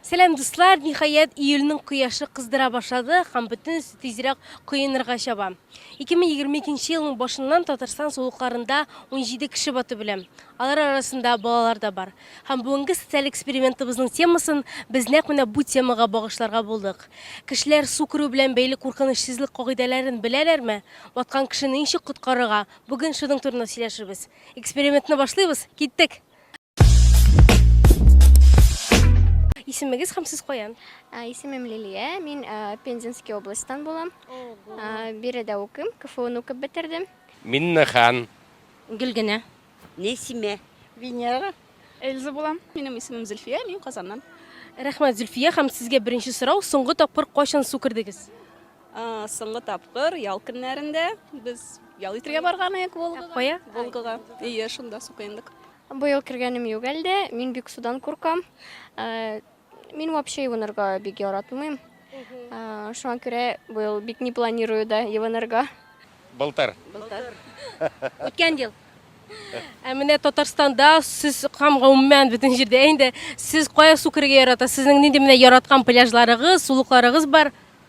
Сәлам дуслар! Ниһаять, июльнең кояшы кыздыра башлады һәм бөтенесе тизрәк коенырга чаба. 2022 елның башыннан Татарстан сулыкларында 17 кеше батып үлә. Алар арасында балалар да бар. Һәм бүгенге социаль экспериментыбызның темасын без нәкъ менә бу темага багышларга булдык. Кешеләр су керү белән бәйле куркыныч сизлек кагыйдәләрен беләләрме? Баткан кешене ничек коткарырга? Бүген шуның турында сөйләшербез. Экспериментны башлыйбыз, киттек! Исемегез һәм сез каян? Исемем Лилия, мин Пензенский областьтан булам. Биредә укыйм, КФУны укып бетердем. Миннехан. Гөлгенә. Нәсимә. Венера. Эльза булам. Минем исемем Зөлфия, мин Казаннан. Рәхмәт, Зөлфия, һәм сезгә беренче сорау, соңгы тапкыр кайчан су кердегез? Соңгы тапкыр ял көннәрендә без ял итергә барган идек Волгага. Кая? Волгага. Ие, шунда су коендык. Быел кергәнем юк әлдә, мин бик судан куркам. Ә, Мин вообще юынырга бик яратмыйм. Ә, Шуңа күрә быел бик не планирую да юынырга. Былтыр. Үткән ел. Ә менә Татарстанда сез һәм гомумән бөтен җирдә инде сез кая су керергә ярата? Сезнең нинди менә яраткан пляжларыгыз, сулыкларыгыз бар?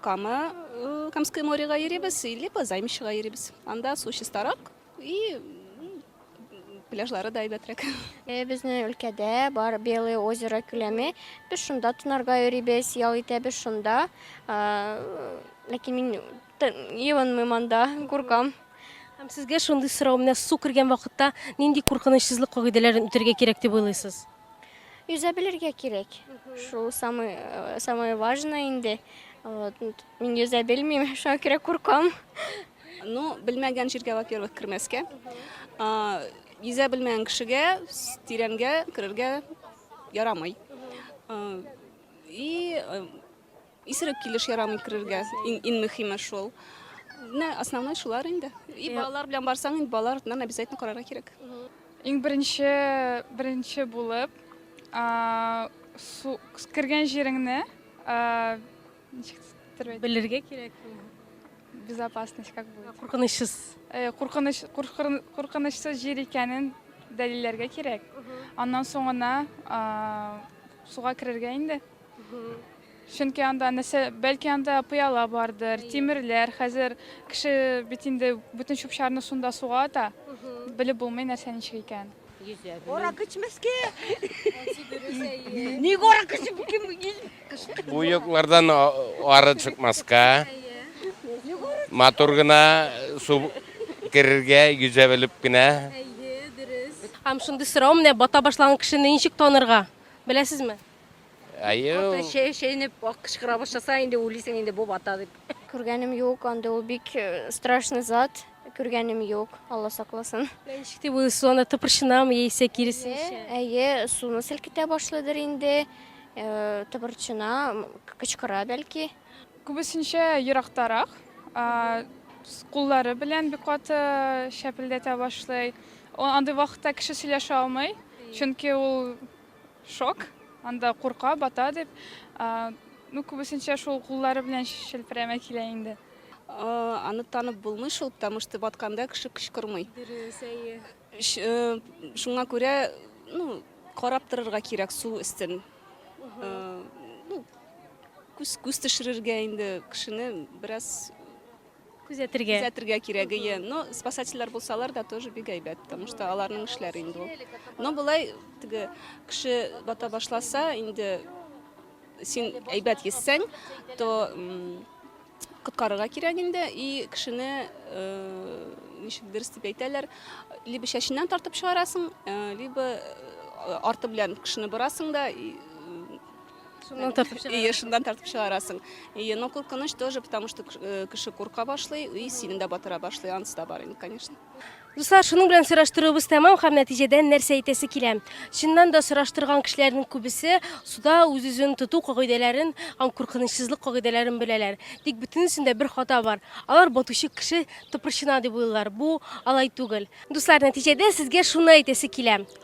Кама, Камское морегә йөрибез, либо Займищега йөрибез. Анда су чистарак и пляжлары да әйбәтрәк. Э, безнең өлкәдә бар Белое озеро күләме. Без шунда тонарга йөрибез, ял итәбез шунда. Ләкин мин юынмыйм анда, куркам. Һәм сезгә шундый сорау, менә су кергән вакытта нинди куркынычсызлык кагыйдәләрен үтәргә кирәк дип уйлыйсыз? Йөзә белергә кирәк. Шул самый самое важное инде. Вот. Мин йөзә белмим, шуңа күрә куркам. Ну, белмәгән җиргә, во-первых, кермәскә. А, Йөзә белмәгән кешегә с- тирәнгә керергә ярамый. А, И э, Исерек килеш ярамый керергә. Ин, ин мөхиме шул. Менә основной шулар инде. И балалар белән барсаң, инде балалар артыннан обязательно карарга кирәк. Иң беренче, беренче булып, а, су, кергән җиреңне, а, ничек тирбәт- Белергә кирәк. безопасность как бы. Куркынычсыз. Э, Куркыныч, куркын- куркынычсыз җир икәнен дәлилләргә кирәк. Аннан соң гына а, суга керергә инде. Чөнки анда нәрсә, бәлки анда пыяла бардыр, тимерләр. Хәзер кеше бит инде бөтен чүп-чарны шунда суга ата. Белеп булмый нәрсә ничек икән. Орак эчмәскә. Ник орак эчеп кем ил? Буеклардан ары чыкмаска. Матур гына су керергә, йөзә белеп кенә. Әйе, дөрес. Һәм шундый сорау менә бата башлаган кешене ничек танырга? Беләсезме? Әйе. Каты чәй чәйнеп кычкыра башласа, инде үлисең инде бу бата дип. Күргәнем юк, андый ул бик э, страшный зат. Күргәнем юк, Алла сакласын. Ничек дип ул суны тыпырчынамы яисә киресенчә? Әйе, суны селкетә башлыйдыр инде. Э, Тыбырчына, м, кычкыра бәлки. Күбесенчә ерактарак. а, с- Куллары белән бик каты чәпелдәтә башлый. О- Андый вакытта кеше сөйләшә алмый, чөнки ул Шок. Анда курка, бата дип. Ну, күбесенчә шул куллары белән шелпрәмә килә инде. Аны танып булмый шул, потому что батканда кеше кычкырмый. Дөрес, әйе. Э, шуңа күрә, ну, карап торырга кирәк су өстен. Э, ну, күз, күз төшерергә инде кешене бераз Күзәтергә. Күзәтергә кирәк, ие. Но спасательләр булсалар да тоже бик әйбәт, потому что аларның эшләре инде ул. Но болай теге кеше бата башласа, инде син әйбәт йөзсәң, то коткарырга кирәк инде и кешене э, ничек дөрес дип әйтәләр, либо чәченнән тартып чыгарасың, э, либо э, арты белән кешене борасың да и Шуннан тартып чыгарасың. Ие, шуннан тартып чыгарасың. Ие, но куркыныч тоже, потому что э, кеше курка башлый, и синен дә батыра башлый, анысы да бар инде, конечно. Дуслар, шуның белән сораштыруыбыз тәмам һәм нәтиҗәдә нәрсә әйтәсе килә? Чыннан да сораштырган кешеләрнең күбесе суда үз-үзен тоту кагыйдәләрен һәм куркынычсызлык кагыйдәләрен беләләр. Тик бөтенесендә бер хата бар. Алар батучы кеше тыпырчына дип уйлыйлар. Бу алай түгел. Дуслар, нәтиҗәдә сезгә шуны әйтәсе килә.